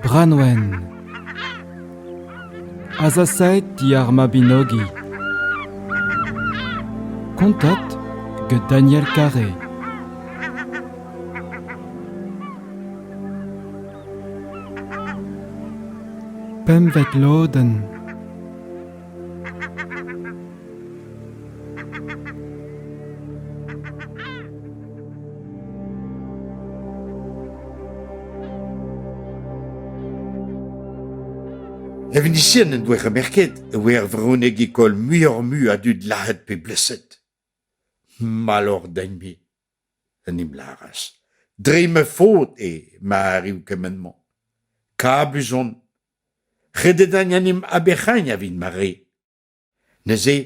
Branwen Azasaet diar Mabinogi Kontat get Daniel Carré Pempvet lodenn Evenisien en doa remerket e voe ar vreunek école muioc'h-mui a dud lazhet pe bleset. Malloc'h din-me, en em laras. Dre ma faot eo ma arriv kement-mañ. Kabus on Redet an animp aberc'hagn a vint ma re. Neuze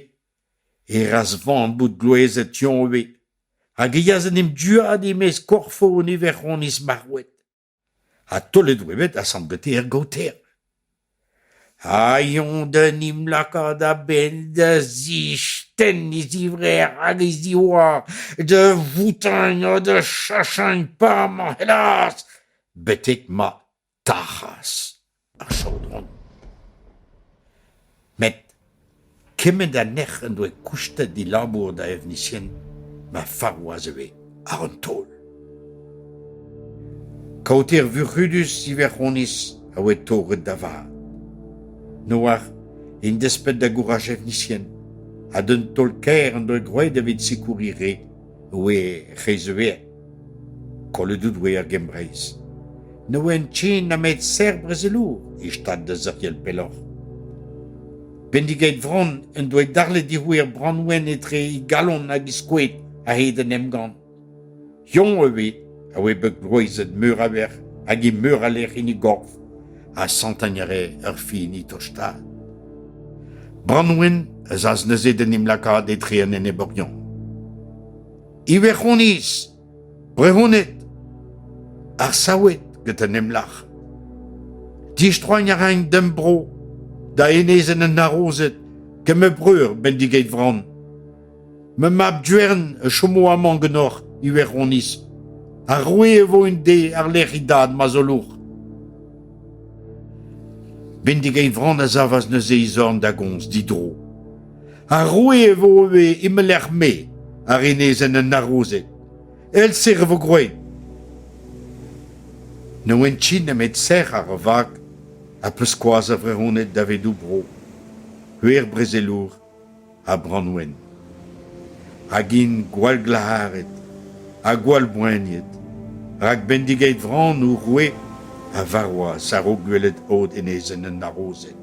e ras vamm bout glouezet Yoñve hag e yas en em duaat e-maez korfon e verc'honiz marc'houet. Ha taolet oa bet asant Beter gaoter. Ha yoñ da 'n em lakaat a-bell da zistenn e zivrec'h hag e ziwar, da voutañ ha da chachagn pamant, hellas ! betek ma. tac'has ar chaodron. Met kement ha nec'h en doa koustet he labour da evnisian ma farouaz e voe àr an taol. Kaoter vuc'hudus Iverc'honiz a oe torret da vat. Noar en desped da gouraj evnisian ha d'un taol-kaer en doa groet evit sikouri re e oe reizeuet. Kollet out eo er Gembreiz. Ne oan ken nemet serr-brezelour e stad da seurtial pelloc'h. Bendigeit vran en doa darlet dic'houer er Branwen etre e galon hag e skoed a-hed an emgann. Yoñ evit a oe bet grouezet meur a verc'h hag e meur a lec'h en e gorf, ha santañ a rae ur fin e tostaat. Branwen a zas neuze d'en em lakaat etre an eneborion. Iwe'honiz, brehoned, ar saoued gant an emlac'h. Distroiñ a raint d'am bro, da enezenn an harozed, gant ma breur Bendigeit Vran. Ma mab Duern a chomo amañ ganeoc'h, Iwe'honiz. Ar roue e vo un de àr-lerc'h e dad ma zolour. Bendigeit Vran a savas neuze e zorn da gomz didro. Ha roue e vo ivez e ma lec'h-me, a renezent an harozed. El-ser e vo gwraet. Ne oant ti nemet serc'h ar vag ha peskoaz a vrehoned davedou bro. Heuer brezelour ha branwen. Hag int gwall glac'haret ha gwall boaniet. Rak bendigeit vran o roue a varwaz ar o gwelet od enezen an harozed.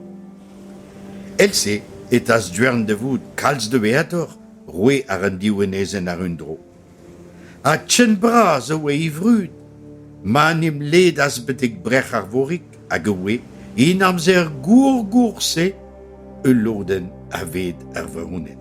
Èl-se e tas Duern da vout kalz doueetoc'h roue ar un diouenezenn àr un dro. Ha ken bras a oa e vrud ma 'n em ledas betek brec'h Arvorig hag e oe, en amzer gour-gour-se, ul lodenn aved ar vaouned.